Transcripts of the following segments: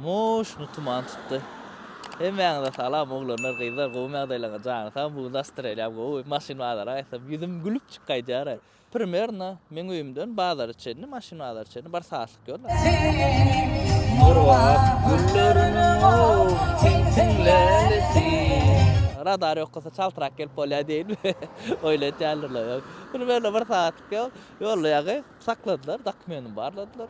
Moşuny tuman tutdy. Hemmäňize salam oglanlar gyzlar gowymy ýagdaýlaryňyz jany sag bu gün nastreniýam gowy maşyn bazara gaýtsam ýüzüm gülüp çyk gaýdýar primerno meň öýümden bazara çenli maşyn bazara çenli bir saatlyk ýol bar. Murwat gülleriniň ow tiň tiň lälesi. Radar ýokasa çaltrak gelip bolýar diýinmi oýlaýtýarlar ýok primerno bir saatlyk ýol ýolda ýaňy. Sakladylar, dokumentymy barladylar.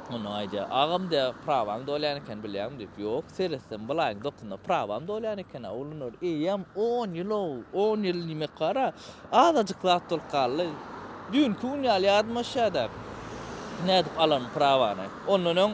Ondan aýdýar, Agam, diýýär, prawaň dolýan eken, bilýäňmi? diýip. Ýok, seretsem, bulaýyň dokunda prawam dolýan eken-ä, Ulynur. Eýýäm on ýyl-ow! On ýyl diýmek bar-a, azajyk zat bolup galdy. Düýnki gün ýaly ýadymda şä-de, nädip alaryn prawany. Ondan öň.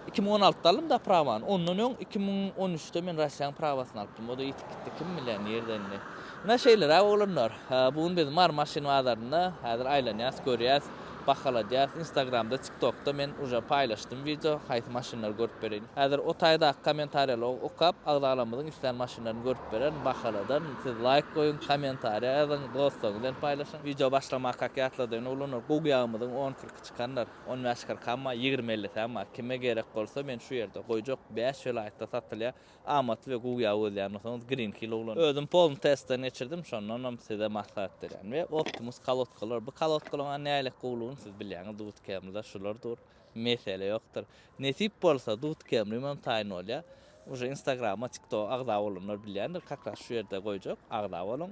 Iki müň on altyda aldym da prawany. Ondan öň iki müň on üçde men Russiýanyň prawasyny alypdym. O-da ýitip gitdi. Kim bilýär, nirde indi. Ine şeýleräk oglanlar. Bu gün biz Mary maşyn bazarynda. Häzir aýlanýas, görýäs, bahaladýas. Instagramda, TikTokda men uje paýlaşdym wideo. Haýsy maşynlary görüp bereýin. Häzir o taýdaky kommentariýalary okap, agzalarymmyzyň islän maşynlaryny görüp bererin, bahaladan. Siz laýk goýuň, kommentariýa ýazyň, dostlaryňyz bilen paýlaşyň. Wideo başlamakak ýatladyň oglanlar. Gug ýagymyzyň on kyrky çykandyr. On bäş-kyrkamma, ýigrimi-ellisämma, kime gerek bolsa men şu ýerde, goýjak, bäş welaýatda satylýar. Amatly we guýa gözleýän bolsaňyz, Greenhill uglany. Özüm polny testden geçirdim, şondanam size maslahat berýän. We Optimus kolodkalar. Bu kolodkalaryň-a nähili gowulygyny siz bilýäňiz, Dut Camry-da şular dur. Mesele ýokdur. Nesip bolsa, Dut Camry-ym hem taýyn bolýar. Uje Instagrama, TikToga agza bolanlar bilýändir, kakras şu ýerde goýjak, agza boluň.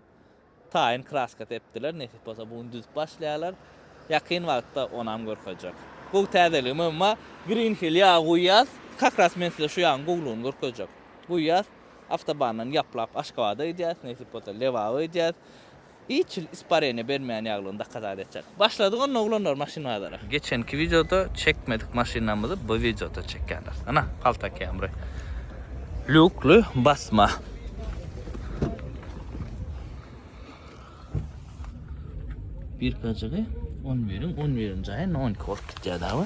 Taýyn kraska sepdiler, nesip bolsa bu gün düzüp başlaýarlar. Ýakyn wagtda onam görkezjek. Gowy täzeligi mymma. Green Hill ýagy guýýas. Kakras men size şu ýagyň gowlugyny görkezjek. Guýýas, awtobandan ýaplap Aşgabada gidýäs, nesip bolsa Lebaba gidýäs. Hiç hil ispareniýa bermeýän ýaglygyny dakazat etjek. Başladyk onda oglanlar maşyn bazara. Geçenki wideoda çekmedik maşynamyzy bu wideoda çekýäler. Ana palta Camry. Lýukly basma. Bir kajygy on biriň on birinji aýyna on iki bolup gitýär dagy.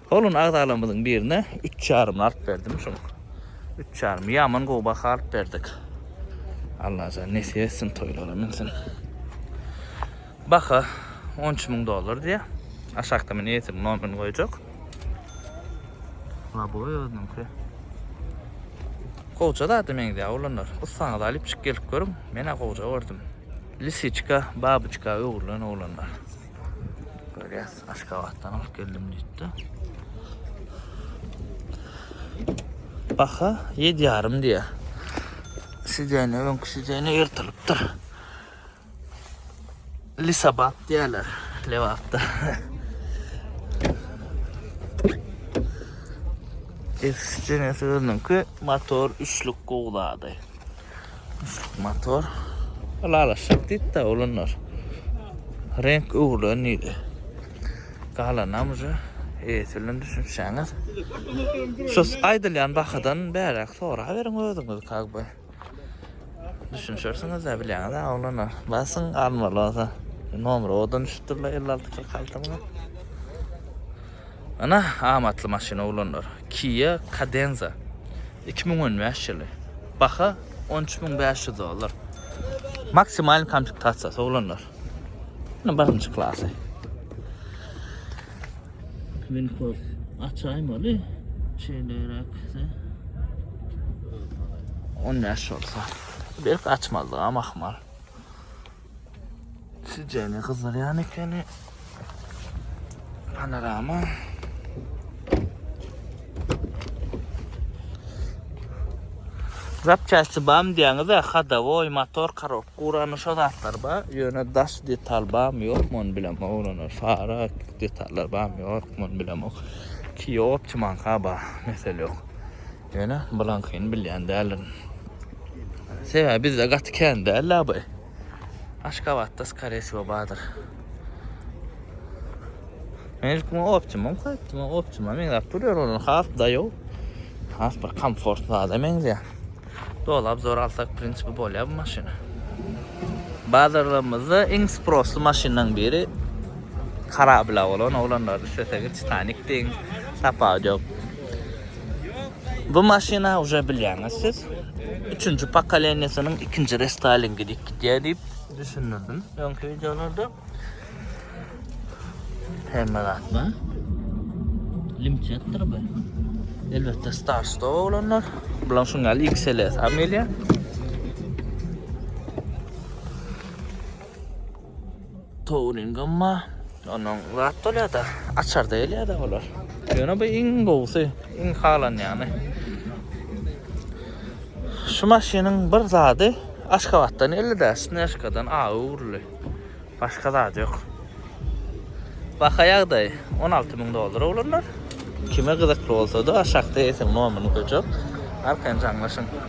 Holland agzalarymyzyň birine üç ýarymly alyp berdim şuň. Üç ýarym ýaman gowy baha alyp berdik. Allajan nesip etsin toýlara münsin. Baha 10 üç müň dollar diýýär. Aşakda men eýesiniň nomerini goýjak. Laboý özüniňki. Gowja zada meňzeýär oglanlar. Ussaňyzy alyp çyk gelip görüň. Men-ä gowja gördüm. Lisiçka, babyçka öwrülen oglanlar. Görýäs. Aşgabatdan alyp geldim diýdi. Baha 7 ýarym diýä. Sidene öňki sidene ýyrtylypdyr. Lisabap diýerler Lebapda. Eski sidenesi özüniňki motor üçlük gowlady. Üçlük motor. Ylalaşjak diýdi-de olanlar. Renk öwrülen diýdi. Galanam uje eýesi bilen düşünişýäňiz. Şu aýdylýan bahadan bäräk soraberiň özüňiz kak be. Düşünişersiňiz-dä bilýäňiz-ä oglanlar. Basyň almaly bolsa. Nomeri owadan düşüpdir-le elli alty kyrk altyň-a. Ana, amatly maşyn oglanlar. Kia Cadenza, iki müň on bäş ýyly. Baha on üç müň bäş ýüz dollar. Maksimal komplektasiýasy oglanlar. Munuň birinji klasy. Winko açaýmaly. Şeýleräkse. On bäş bolsa. Berk açmalydyga mahmal. Sizcene gyzarýan ekeni. Panorama. Zapçasty bam diýäňiz de hadowoý motor karok gurany şo zatlar ba ýöne daş detal bam ýok mon bilen oglanar fara detallar bam ýok mon bilen ok kiýop çymanka ba mesel ýok Ýöne bulaňkyny bilýän däldirin. Sebäbi bizde gaty kän däl-la bu. Aşgabatda skare wsýo bardyr. Men ilkimi optimum koýupdym, o optimuma meňzäp durýar, onuň has daýaw, has bir komfortly zada meňzeýär. Doly obzor alsak, w prinsipi, bolýar bu maşyna. Bazarlarymyzda iň sprosly maşynlaryň biri karablýa bolan oglanlardy. Isleseňiz Titanik diýiň, tapawudy ýok. Bu maşyna uje bilýäňiz siz. Üçünji pokoleniýesiniň ikinji restylingi diýip gidýär diýip düşündirdim öňki wideolarda. Hemme zat bar. Limçetdir bu. Elbetde start stop olanlar. Bulan şuň ýaly XLS ham gelýär. Touring amma onuň zat bolýar-da, açarda gelýär-de olar. Ýöne bu iň gowusy, iň halanýany. Şu maşynyň bir zady Aşgabatdan geldi-de, Snejkadan agy öwrüli. Başga zady ýok. Baha ýagdaýy on alty müň dollara bolanlar. Kime gyzykly bolsa-da, aşakda eýsiniň nomyryny goýjak, arkaýyn jaňlaşyň.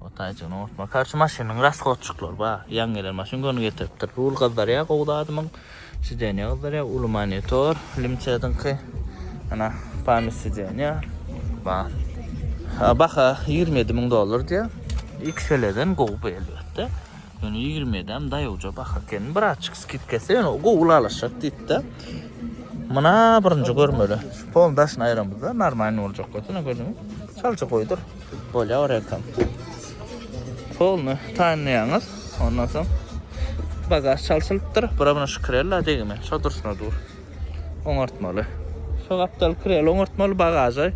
O taýjygyny oňartma. Karşy maşynyň rashodçyklary ba, ýaňy gelen maşyn göni getiripdir. Rul gyzdyrýa gowy zadymyň. Sideniýa gyzdyrýa, uly monitor, limçediňki. Ana, pamyt sideniýa. Ba. Baha 27 müň dollar diýä. XL-den gowy bu elbetde. Ýöne 27-äm daýawja baha eken. Birazçyk skidka etse, ýöne gowy ylalaşjak diýipdi. Muna birinji görmeli. Şu polny daşyny aýramyzda, normalny boljak bolsa, ine gördüňiz. Çaljy goýdur. Bolýar ekran. Polny taýynlaýaňyz. Ondan soň bagaž çalşylypdyr. Bura muny şkrella degme. Şo durşuna dur. Oňartmaly. Şo gapdal krel oňartmaly bagaža.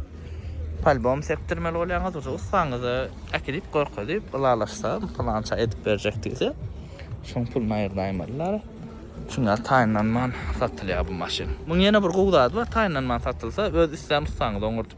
Palbom sepdirmeli bolýaňyz. Uza ussaňyza äkidip gorkadyp ylalaşsa plança edip berjek diýse. Şoň puluny aýyrda aýmalylar. Çünki taýynlanman satylýar bu maşyn. Muň ýene bir gowy zady bar. Taýynlanman satylsa öz islän ussaňyza oňardyp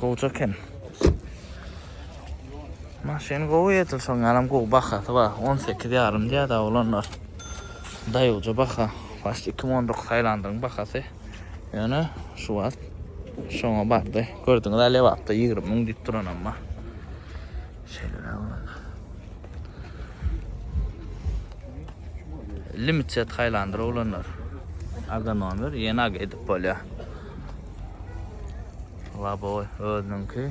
Gowja kem. Maşyn gowy edil soň anam gowy bahasy bar. 18 ýarym diýä da olanlar. Daýuja baha. Baş 2019 Tailandyň bahasy. Ýöne şu wagt şoňa bardy. Gördüňiz, lebapda 20 müň diýip duran amma. Şeýle olanlar. Limited Highlander olanlar. Aga nomer ýene aga edip bolýar. Laboy özüniňki.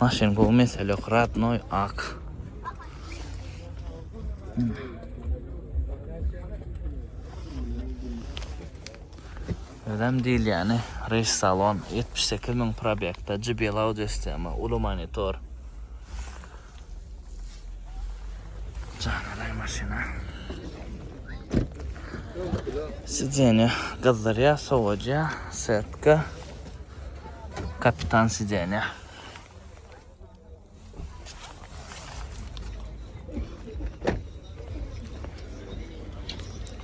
Maşyn bu mesele yok. Radnoy ak. Hmm. Özem diýilýäni reýs salon, ýetmiş sekiz müň probegda, JBL audio sistema, uly monitor. Janly maşyna. Sideniýe gyzdyrýar, sowadýar, setka. Kapitan sideniýe.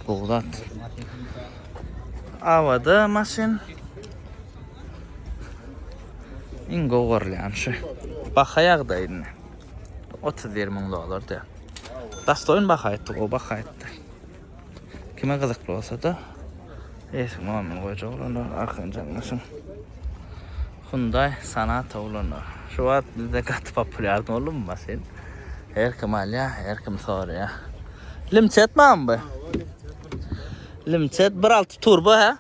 Bogdat. Avada maşyn. İn gowarlayan şu. Baha ýagdaýyny. 31 müň dolar diýär. Dastoýyn baha etdi, o baha etdi. Kime gyzykly bolsa-da, eski Muammer goýjak olanlar, Arkanjanlyşyn Hyundai Sonata olanlar. Şu wagt bizde gaty populýar boldy bu maşyn. Her kim alýar, her kim soraýar. Limçet barmy bu? Limçet 1.6 turbo ha?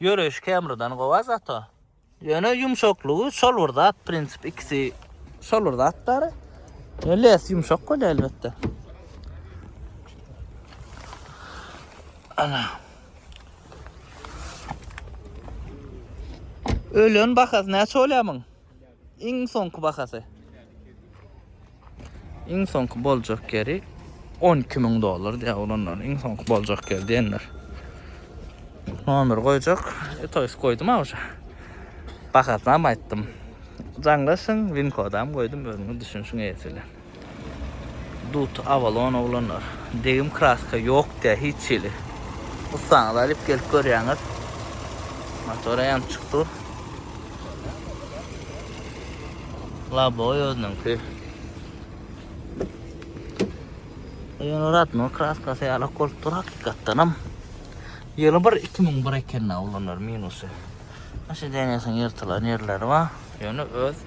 Ýöreýşi Camrydan gowa zato. Ýöne ýumşaklygy şol bir zat prinsip ikisi şol bir zat bary. Less ýumşak bolýar elbetde. Ana. Ölen bahasy näçe bolýar muň? Iň soňky bahasy. Iň soňky boljak ýeri 12 müň dollar diýýär oglanlar. Iň soňky boljak ýer diýenler. Nomer goýjak. E, toýs goýdum awşa. Bahasyny hem aýtdym. Jaňlaşyň, win kodam goýdum, özüňiz düşünişiň eýesi bilen. Dut Avalon oglanlar. Degim kraska yok dä hiç hili. Ussaňyzy alyp gelip görýäňiz. Motora ýanyp çykdy. Laboy özüniňki. Ýöne Radno kraskasy ýalak bolup dur hakykatdanam. Ýyly bir 2001 eken oglanlar minusy. Aşa denesiň ýyrtylan ýerleri bar. Ýöne öz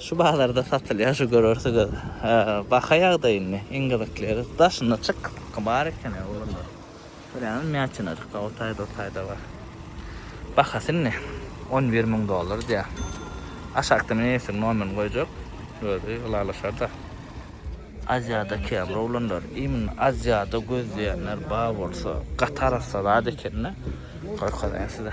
Şu bazarda satylýar şu görersigiz baha ýagdaýyny iň gyzykly daşyna çyk bar eken oglanlar görýäňiz mäçenajykda o taýda o taýda bar bahasy indi on bir müň dollar diýýär aşakda men efir nomerini goýjak özi ylalaşarda aziýada kän oglanlar imin aziýada gözleýänler bar bolsa gaty arassa zat ekende görkezeýin size.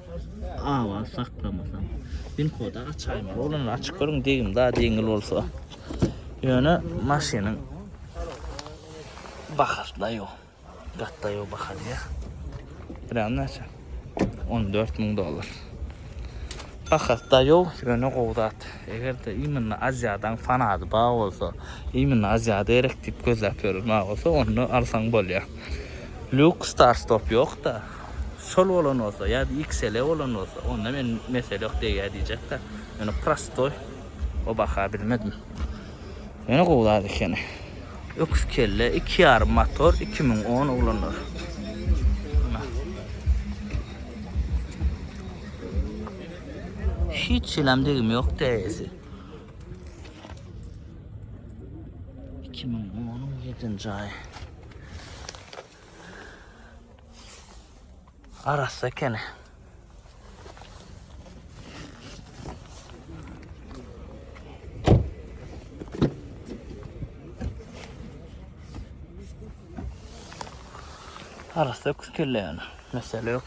Awaz saklamasam. Bin koda açaýma. Onuň açyk görüň degim da deňil bolsa. Ýöne maşynyň bahasyna ýok. Gatda ýok bahasy ýa. Bilen näçe? 14 müň dollar. Bahasy da ýok, ýöne gowy zat. Eger de iýmini Aziýadan fanady ba bolsa, iýmini Aziýada gerek diýip gözläp ýörün ba bolsa, onda alsaň bolýar. Lux Star Stop ýok da. sol bolan bolsa ya da xl bolan bolsa onda men mesele yok degýär diýjek da. Ýöne prostoy o baha bilmedim. Ýöne gowy zat ekeni. Öküz kelle 2,5 motor 2010 oglanlar. Hiç selam degim yok däýesi. 2010 ýedinji aý. Arassa ekeni. Arassa öküz kelle yani. Mesele yok.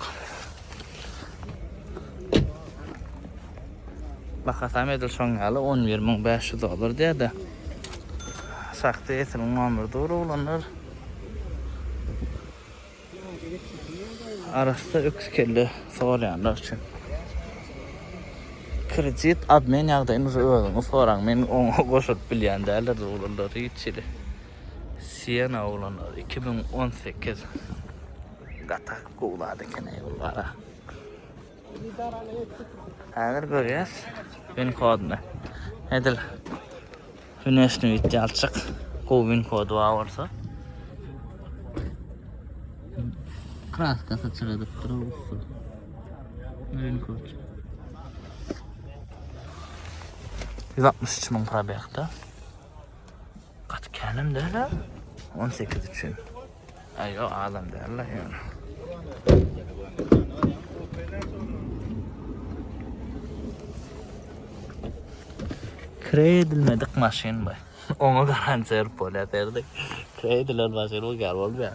Bakasam edil şoň ýaly 11.500 dolar diýýär-de. Sakda etin 11 dur oglanlar. Arassa öküz kelle sorýanlar üçin. Kredit admin ýagdaýyny uza özüňi soraň. Men oňa goşulyp bilýän däldir oglanlar hiç hili. Siena oglanlar 2018. Gatak gowzady ekeni bu gara. Häzir görýäs. Win kodny. Edil. Güneşni bitdi alçak. Gowy win kodu bar bolsa. Kraskasy çyradyp durup usul. Win kod. 163 ming probekta. Gaty känem däl-ä. 18 üçin. Ay yok adam däl-ä yani. Kire edilmedik maşyn bu. Onu garantiya berip bolýar derdik. Kire edilen maşyn bu gal bolmaýar.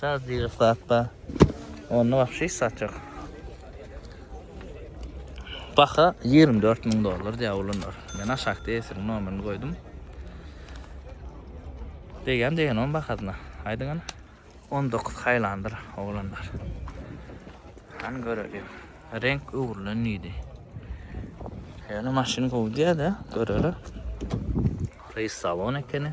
Saz diýip zat bar. Onda wahşy hiç zat ýok. Baha 24 müň dollar diýýär olanlar. Men aşakda esiriň nomerini goýdum. Degen degen on bahasyna. Aýdyň ana. 19 haýlandyr oglanlar. Han görelim. Renk öwrülen diýdi. Ýöne maşyn gowy diýýär-de, göreler. Reýs salon ekeni.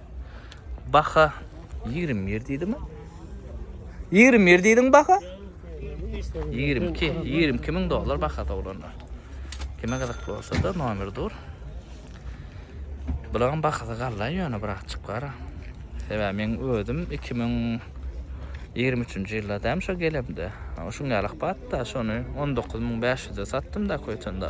Baha 21 diýdimi? 21 diýdiň baha? 22, 22 ming dollar baha doglanlar. Kime gyzyk bolsa da nomer dur. Bularyň bahasy galla ýöne biraz çykar. Sebäbi men özüm 2023-nji ýylda däm şo gelemde. Şuň ýaly batda şony 19500-e satdym da köýtende.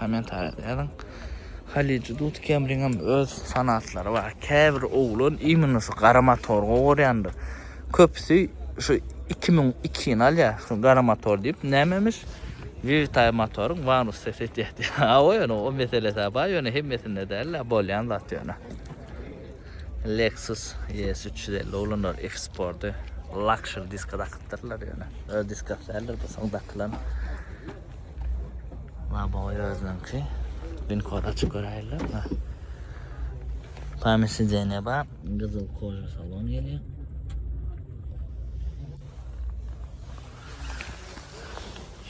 Kommentariýada ýazyň. Halyjy Dut Kemriňem öz fanatlary bar. Käbir oglan imенно şu gara motor gowurýandyr. Köpüsi şu 2002-ni alýar, şu gara motor diýip, nämemiş? Vewitaý motoryň wanus sesi etýär diýip. Hawa ýöne o meselesi-hä bar, ýöne hemmesinde däl-de, bolýan zat ýöne. Lexus ES üç ýüz elli oglanlar F-Sport-y lakşer diska dakypdyrlar ýöne. Öz diskasy däldir bu soň dakylan. Labowy özüniňki. Bin kod açyp göräýler. Pamir sideniýe bar. Gyzyl koja salon gelýär.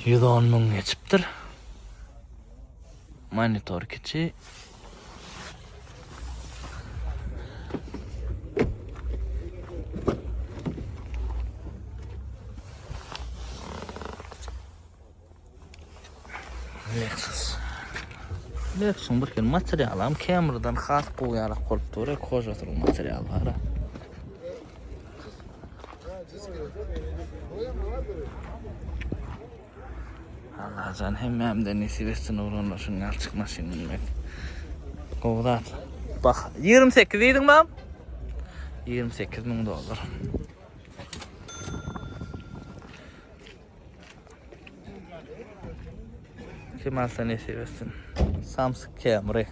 Ýüz on müň geçipdir. Monitor kiçi. Lexus. Lexusyň bir kere materialy hem Camrydan has gowy ýalak bolup dur. Kojasynyň materialy bar. Allah can hemmemden nesip etsin oglanlar şuň ýalçyk maşyn bilmek. Gowy zat. Bak 28 diýdiň mam? 28 ming dollar. Kim alsa nesip etsin. Samsung Camry.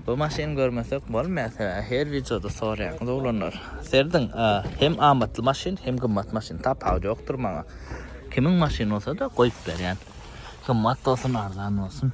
Bu maşyny görmesek bolmaýar sebäbi her wideoda soraýaňyz oglanlar. Serdiň hem amatly maşyn, hem gymmat maşyn tapawudy ýokdur maňa. Kimiň maşyny bolsa-da goýup berýän. Gymmat bolsun, arzan bolsun.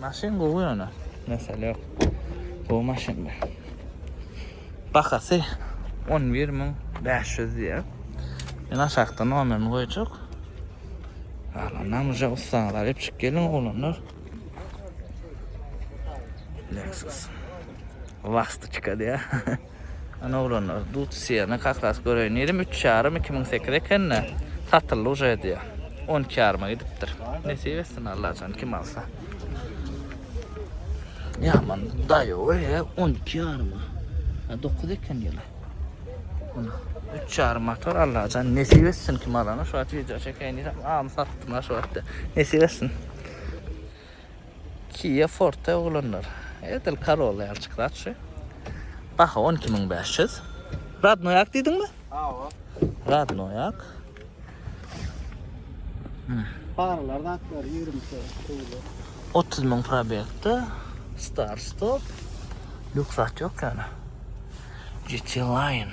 Maşyn gowy ýöne mesele ýok. Gowy maşyndy. Bahasy on bir müň bäş ýüz diýýär. Men aşakda nomerini goýjak. Galanam uje ussaňyz alyp çyk geliň oglanlar. Lexus. Vastyçka diýýär. Ana oglanlar dut syýany kakasy göreýin diýdim üç ýarym iki müň sekiz ekende satyldy uje diýýär on iki ýaryma gidipdir nesip etsin allajan kim alsa ýaman daýow e on iki ýaryma a dokuz eken ýyly üç ýarym motor allajan nesip etsin kim alana şu wagt wideo çekeýin diýsem am satdym şu wagtda nesip etsin Kia Forte oglanlar. Edil Corolla ýaly çykyp atşy. Baha 12500. Radnoýak diýdiňmi? Hawa. Radnoýak. Paralar zatlar 20 kilo. 30 ming probekde. Star stop. Lüksat yok yani. GT Line.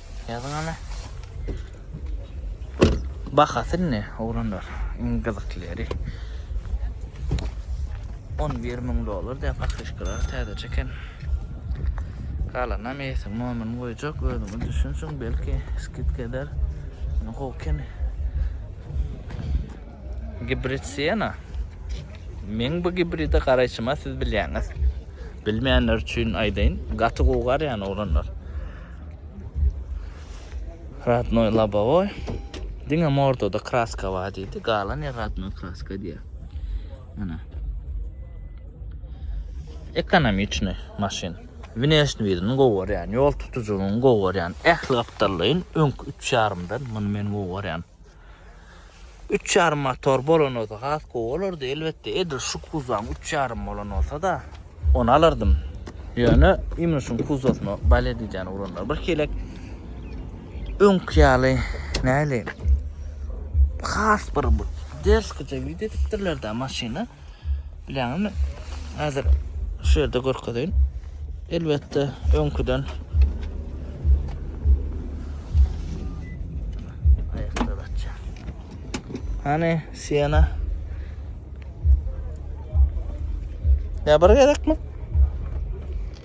Ýazyň ana. Bahasy ne oglanlar? Iň gyzyklyry. 11 müň dollar diýip pakryşkalar täzeçe eken. Galana mesi momin goýjak özüňi düşünsüň belki skit eder. Ne goken. Gibrid Siena. Men bu gibride garaýşyma siz bilýäňiz. Bilmeýänler üçin aýdaýyn. Gaty gowy garýan oglanlar. Ratnoý labowoý. Diňe mordada kraska bar diýdi. Galan ýer ratnoý kraska diýýär. Ana. Ekonomiçny maşyn. Wneşni widini gowy görýän, ýol tutujylygyny gowy görýän. Ähli gapdallaýyn öňki 3,5-dan muny men gowy görýän. Üç ýarym motor bolan bolsa has gowy bolardy. Elbetde edil şu kuzowyň üç ýarym bolan bolsa-da ony alardym. Ýöne imni şuň kuzowyna bal edijäni uranlar. Bir kelek öňki ýaly näli has bir ders gije edipdirler-de maşyny. Bileňizmi? Häzir şu ýerde görkezeýin. Elbetde, öňküden aýakda datça. Hany Siena? Ya bir gezekmi?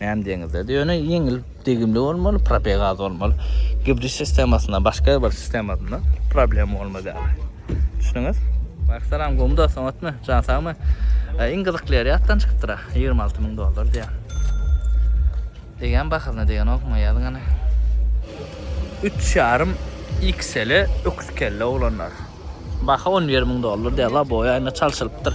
Näme diýeňizler? Ýöne ýeňil, degimli bolmaly, probeg az bolmaly. Gibrid sistemasynda, başga bir sistemasynda problem bolmaz ýaly. Düşündüňiz? Salam, gowy dostum, otmy? Jan sagmy? Iň gyzykly ýeri ýatdan çykypdyr. 26 müň dollar diýýär. Degen bahasyna degen okma ýazyň ana. 3,5 XL öküz kelle oglanlar. Baha 11 müň dollar diýýär. Labowy aýna çalşylypdyr.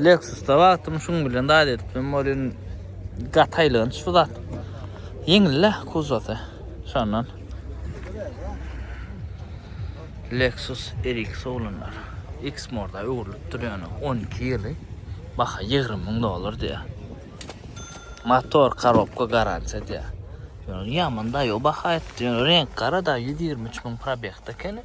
Lexus-da wagtym şuň bilen zat edipdim, welin gaty aýlanç bu zat. Ýeňil-le kuzowasy, şondan. Lexus RX oglanlar. X-Morda öwrülip dur ýöne 12 ýyly. Baha 20 müň dollar diýýär. Motor, korobka garantiýa diýýär. Ýöne ýaman daýaw baha etdi. Ýöne reňk gara da 123 müň probegde ekeni.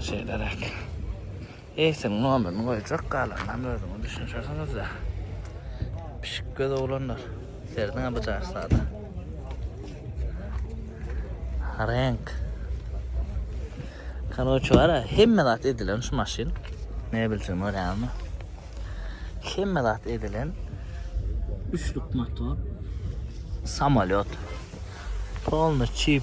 Şeýleräk. Eýsem nomerini goýjak galanynam özüňiz düşünşersiňizde. Pişik göz oglanlar. Serdiňe bu jarsada. Renk. Kanoçu var ya, hemme zat edilen şu maşin. Ne bilsin var ya mı? Hemme zat edilen. Üçlük motor. Samolyot. Polny çip.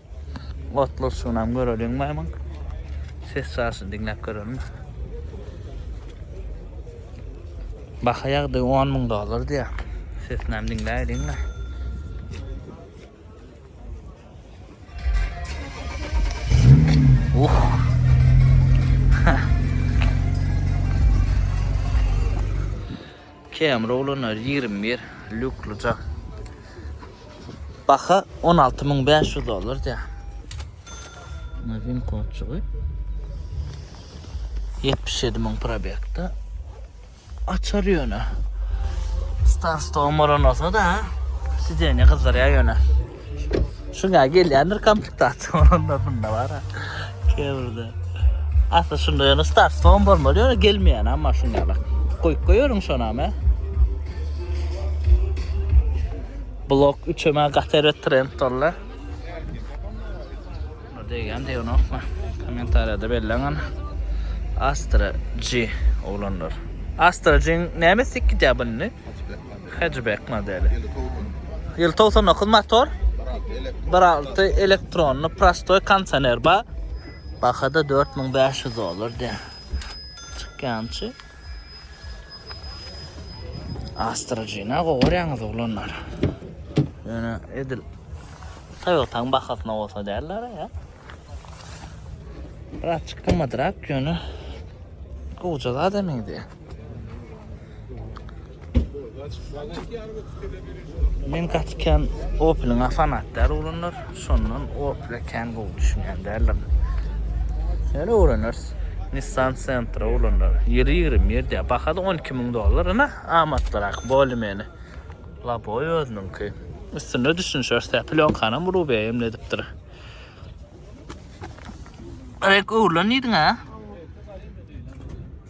Otlusygnam göreliň maýmyn. Ses çaşyny diňläp göreliň. Baha ýagdy 10 müň dollar diýýär. Sesinem diňläýliň-le. Camry oglanlar ýigrimi bir lýukly jaň. Baha on alty müň bäş ýüz dollar diýýär. Muny winkodçygy. Ýetmiş ýedi müň probegde. Açar ýöne. Star Stone Moronosa da. Sidenýe gyzdyrýar ýöne. Şuna gelýändir komplektatsiýa onda bunda bar. Kewrde. Asla şunda ýöne start son bolmaly ýöne gelmeýän amma şunda bak. Goýup goýaryn şona me. Blok 3-e me gatere trend dolla. Degen de onu okma. Komentariyada belleň ana. Astra G olanlar. Astra G näme sikki de bunny? Hatchback. Hatchback modeli. Ýyl 99 motor. 1.6 elektronly prostoy kondisioner bar. Bahada 4500 dollar de. Çykýançy. Astrajina goýýaňyz oglanlar. Ýöne edil Toyota'ň bahasyna bolsa derler ya. Biraz çykmadyrak ýöne. Goýja zat emin diýär. Men gaçykän Opel-iň fanatdary ulanlar, şondan Opel-e kän gowy düşünýän däldim. Ýöne öwreneris. Nissan Sentra ulanlar. Ýeri ýigrim ýerde, bahasy 12 müň dollar, ine amatlyrak, bolymeni. Laboy özüniňki. Üstünde düşünişeris, tä plýonkanam Rubia emle edipdir. Rek öwrülen diýdiň-ä?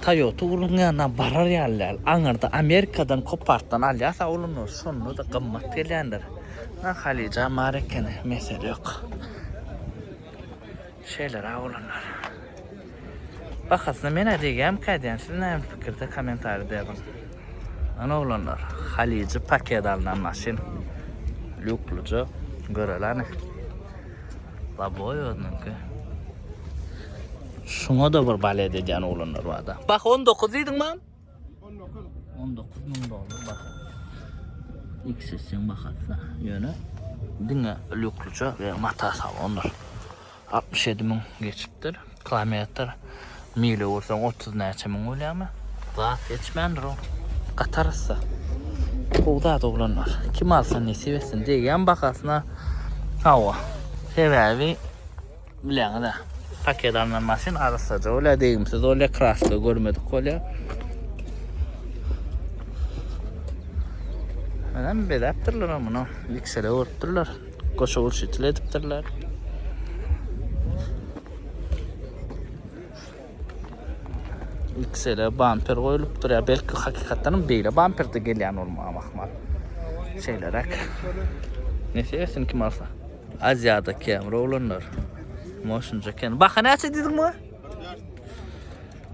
Toyota uluň ýanyna barar ýaly däl. Aňyrda Amerikadan kopartdan alýarsa ulunur, şonda-da gymmat gelýändir. Ynha Halyja bar ekeni, mesele ýok. Şeýleräk ulanýar. Bahasyna men-ä degýärmikä aýdýan, siz näme pikirde kommentariýada ýazyň. Ynha oglanlar, Halyjy paket alnan maşyn. Lýuklyja, göreli hany. La boy özüniňki. Şuna da bir balet edýän oglanlar barda. Bak 19 diýdiň mam? 19. 19 müň dollar bak. X etseň bahatsa. Ýöne diňe lükluça we mata salonlar. 67 müň geçipdir. Kilometr, mile ursaň otuz näçe müň bolýamy? Zat geçmändir o. Gatarys-da. Gowy zat oglanlar. Kim alsa nesip etsin. Degýän bahasyna. Hawa. Sebäbi bileňiz-ä. Paket alnan maşyn arassaja bolýar, degimsiz bolýar, kraska görmedik bolýar. Menem bezäpdirler muny. Liksele görüpdirler. Goşa gurç itil edipdirler. Xl bamper goýlupdyr. Ya belki hakykatdan beýle bamperde gelýän bolmagy mahmal. Şeýleräk. Nese etsin kim alsa. Aziýada kemre olanlar. Moşunca ken. Baha näçe diýdiň bu?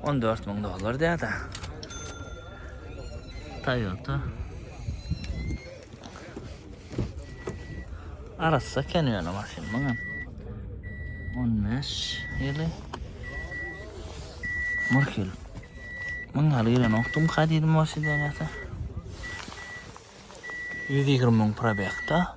14 ming dollar diýýär-de. Toyota. Arassa eken ýöne maşyn muňam. 15 ýyly. Murkil. Muň ýaly ýere noktum kadydy maşyn ýata. 120 müň probekta.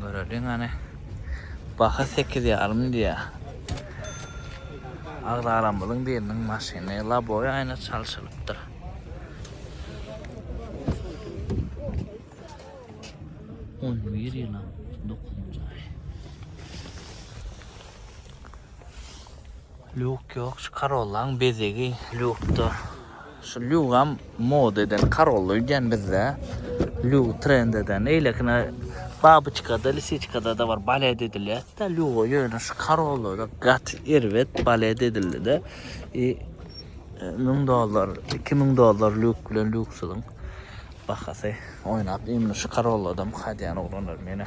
Göreliň hany. Baha sekiz ýarym diýýär. Agzalarymyzyň biriniň maşyny labowy aýna çalşylypdyr. On bir ýylam dokuzynjy aý. Lýuk ýok, şu Corolla-nyň bezegi lýukda. Şu lugam moda eden karolly öýdýän bizde. Lug trend eden. Eýlekine babyçkada, lisiçkadada bar balet edilýärdi-de luga ýöne şu karollada gaty erbet balet edildi-de. I müň dollar, iki müň dollar lug bilen lugsyzyň bahasy oýnap. Indi şu karolladam hadýan oglanlar menä.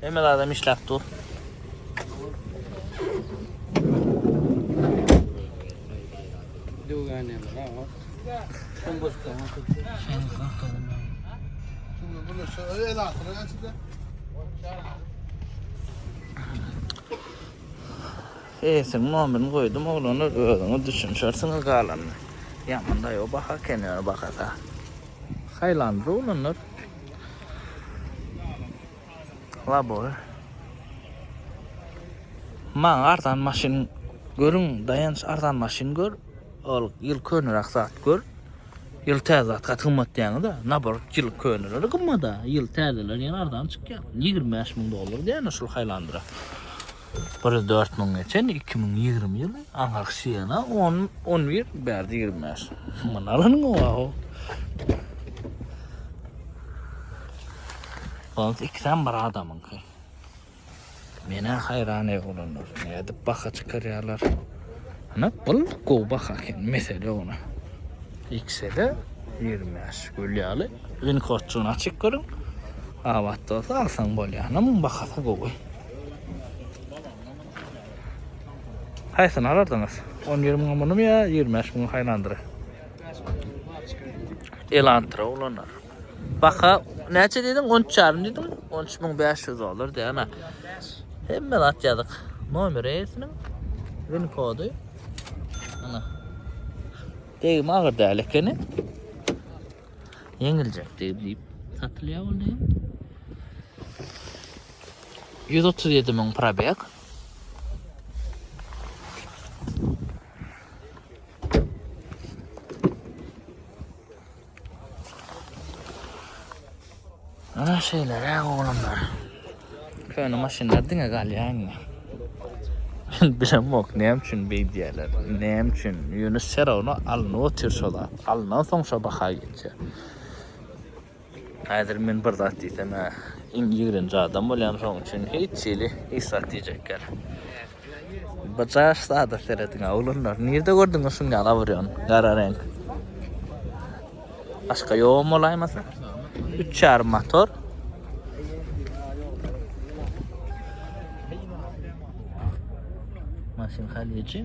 Hemme zadam işläp dur. Döwgäne bra. Sen boş kal. Sen boş kal. Şunu bunu şöyle el atına geçti. Eýsin mobilini goýdum oglanlar özüňiz düşünşersiňiz galanyny. Ýamanda ýok baha kenara bakasa. Haýlandyr oglanlar. Labor. Maň arzan maşyn görüň, daýanç arzan maşyn gör. Ol ýyl könüräk zat gör. Ýyl täze zat gaty gymmat diýäňiz-de. Nabor ýyl köneleri gymmat-a, ýyl täzeleri ýene arzan çykýar. 25 müň dollar diýýän şol Highlander-a. Bir ýüz dört müň geçen iki müň ýigrimi ýyly aňyrky şiýana on on bir bärde ýigrimi bäş myn alanyň owaw Ol ikisem bir adamyňky. Mene hayran ev olanlar. Ne edip baka çıkaryalar. Ana bul gow baka eken. Mesele ona. X'de 25 gül yalı. Link otçuğunu açık görün. Avat da olsa alsan bolya. Ana mın bakası gowy. Haýsyny alardyňyz? 10-20 müň munumy ýa 25 müň haýlandyry? Elantra ulanar. Baka näçe diýdiň? 13,5 diýdiň? 13500 dollar diýana. Hemme zat ýazyk. Nomer eýesiniň win kody. Ana. Degim agyr däl ekeni. Ýeňiljek diýip satylýar ol diýip. Ýüz otuz ýedi müň probeg. Ana şeýle oglanlar. Köne maşynlar diňe galýar indi. Bilemok näme üçin beýdýärler. Näme üçin? Ýunus Serowna alnyp otyr şola. Alnan soň şo baha geçer. Häzir men bir zat diýsem-ä, iň ýigrenji adam bolýan, şoň üçin hiç hili hiç zat diýjek ýaly. Bu jaş zada serediň-ä, oglanlar. Nirde gördüňiz şuny ýaly awurýan, gara reňk? Başga ýogam bolaýmasa? Üç ýarym motor. Maşyn halyýeçi.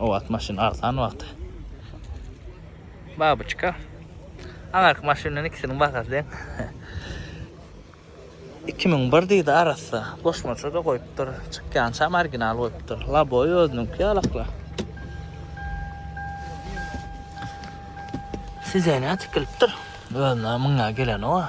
O wagt maşyn arzan wagty. Babuçka. Aňarky maşyn bilen ikisiniň bahasy deň. 2001 diýdi arassa. Goşmaça da goýupdyr. Çykýançam original goýupdyr. Laboy özüniňki ýalakla. Sidenýa tikilipdir. Özüne münýä gelenok-a.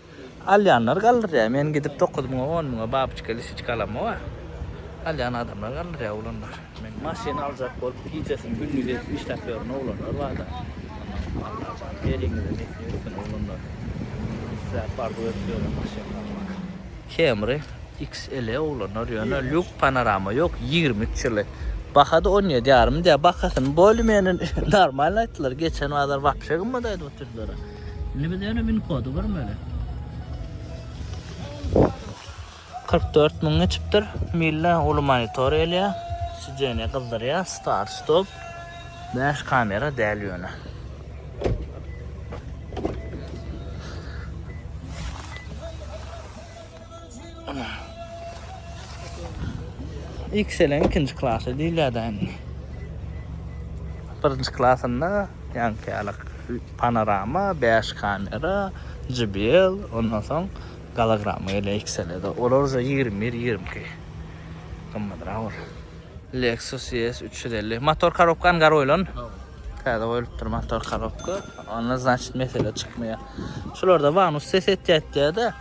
Alýanlar galdyrýar men gidip dokuz müňe on müňe babyçka lisiçka alamok a alýan adamlar galdyrýar oglanlar men maşyn aljak bolup gijesini gündizi edip işläp ýören oglanlar barda ondan Allah bar eliňize nesip etsin oglanlar isläp arzuw edip ýören maşyn almak Camry XLE oglanlar ýöne lýuk panorama ýok ýigrimi üç ýyly bahada on ýedi ýarym diýýär bahasyny bolymeni normalny aýtdylar geçen bazar wapşe gymmat aýdyp oturdylar. Indi biz ýöne win kody görmeli. 44 müň geçipdir. Mille uly monitor gelýär. Sideniýe gyzdyrýar. Start stop. 5 kamera däl ýöne. Ikiselen ikinci klasy diýilýär-de indi. Birinji klasynda ýaňky ýaly panorama, 5 kamera, JBL, ondan soň golograma gelýär ikisele-de. Olar uje ýigrimi bir, ýigrimi iki gymmadrak bolar. Lexus ES üç ýüz elli. Motor korobka angar goýlan. Täze goýlupdyr motor korobka. Onda, znaçit, mesele çykmaýar. Şularda Vanus ses etýär diýýär-de.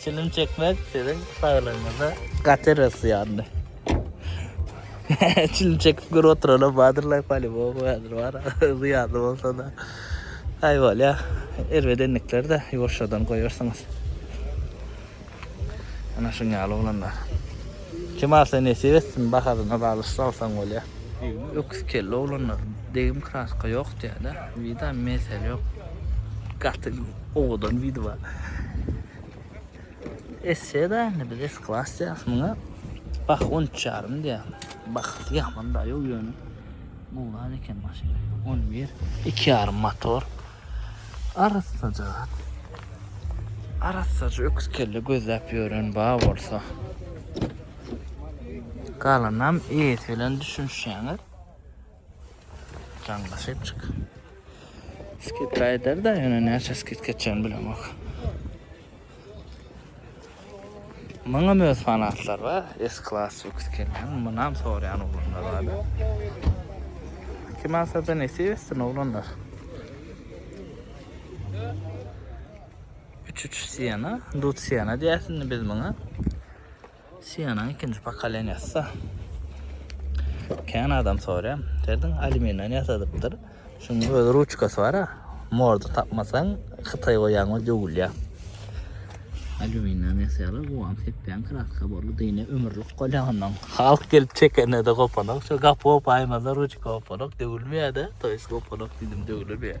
Çilim çekmek sizin saglygyňyza gaty rysyandy. Çilim çekip görüp oturana badyrlar palibok badyr var. Zyýanly bolsa da. Ay bolýa. Erbedenlikler de ýuwaşjadan goýarsyňyz. Ana şuň ýaly oglanlar. Kim alsa nesip etsin bahasyna bagly şuny alsaň bolýa. Öküz kelli oglanlar degim kraska ýok diýädä wida mesele ýok gaty owadan widi bar esseda indi biz es klas diýäs muňa bah on üç ýarym diýä bahasy ýaman daýow ýöne mugan eken maşyn on bir iki ýarym motor Arassaja. Arassaja öküz kelle gözläp ýören ba bolsa. Galanam eýesi bilen düşünişýäňiz. Jaňla şepçik. Skit aýdar da, ýöne näçe skit geçen bilemok. Muňam öz fanatlary bar. S-Class lüks gelýän. Munam soraýan oglanlar bar. Kim alsa-da nesip etsin oglanlar. 3-3 Siena, Dut Siena diýäsini biz muňa. Sienanyň ikinji pokoleniýasy-da. Kän adam soraýar. Derdiň alüminden ýasadypdyr. Şuň öz ruçkasy bar-a. Morda tapmasaň, hytaý goýýaň we döwülýär. Alüminden ýasaýarlar. Guwan sepýäň, kraska borly dyny ömürlik bolýar ondan. Halk gelip çekende-de gopanok. Şo gapy gopaýmasa, ruçka gopanok, döwülmeýär-de. Toýsy gopanok diýdim, döwülmeýär.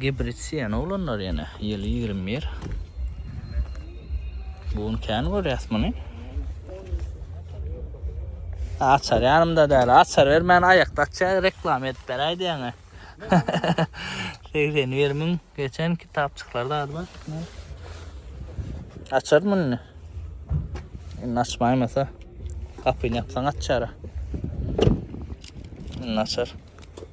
Gibrid siýen oglanlar ýene ýyly ýigrimi bir. Bu gün kän görýäs muny. Açar ýanymda däl. Açar bermän aýakda açýar, reklama edip beräý diýäňe. 81 müň geçen kitapçyklarda ady bar. Açar muny. Indi açmaýmasa gapyny ýapsaň açar. Indi açar.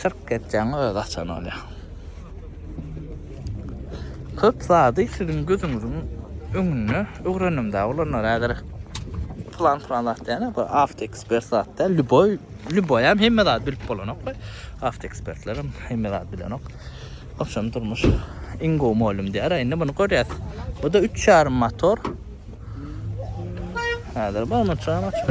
Syrk etjäňi öz açan bolýa. Köp zady siziň gözüňiziň öňünde öwrendim da olanlar häzir plan plan zat diýene bu avtoekspert zat da lüboy lüboy hem hemme zat bilip bolanok we avtoekspertler hem hemme zat bilenok. Oşam durmuş iň gowy mölüm diýär. Indi muny görýäs. Bu da 3,5 motor. Häzir barmy çan açyp.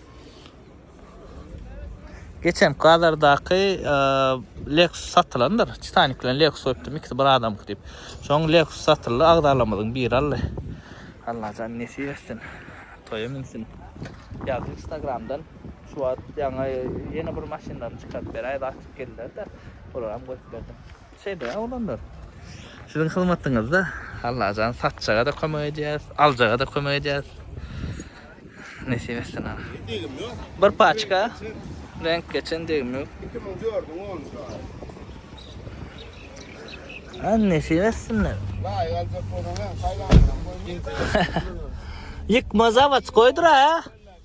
Geçen Kazardaky Lexus satylandyr. Titanic bilen Lexus öpdüm. İkisi bir adam gidip. Şoň Lexus satyldı. Agzalamyzyň biri aldı. Allah can nesip etsin. Toya minsin. Yaz Instagram'dan şu wagt ýaňa ýene bir maşynlaryny çykaryp beräýdi. Atyp geldiler de. Olara hem goýup berdim. Şeýdä oglanlar. Siziň hyzmatyňyzda Allajan satjaga-da kömek edýäs, aljaga-da kömek edýäs. Nesip etsin aga. Degim ýok. Bir paçka reňk geçen degim ýok. 2004-iň 10-njy aýy. Ha nesip etsinler. Laýyk aljak bolsaň, saýlanyňam goýmaýar. Ýykma zawod goýdur-a.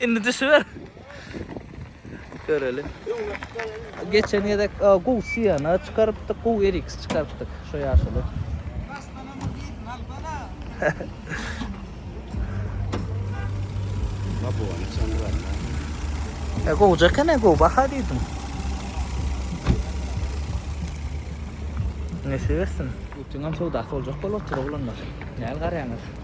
Indi düşüber. Göreli. Geçen gezek e, gowy siyana çykarypdyk, gowy eriks çykarypdyk şu ýaşyly. Babuany çandyran. E, gowja ekene, gowy baha diýdim. Nesip etsin. Putin hem sowdasy boljak bolup otur oglanlar. Näl garaýaňyz?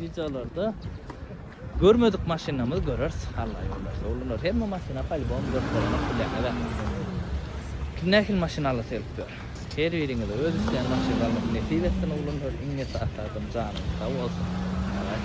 Wideolarda görmedik maşynlarymyzy göreris. Alla ýollarsa olar hemme maşyna polibom görkezmek bilen eden. Kim nähili maşyn alasa gelip dur. Her biriňize öz isleýän maşynyňyzy almak nesip etsin oglanlar. Iň esasy adam janyňyz sag bolsun. Malat.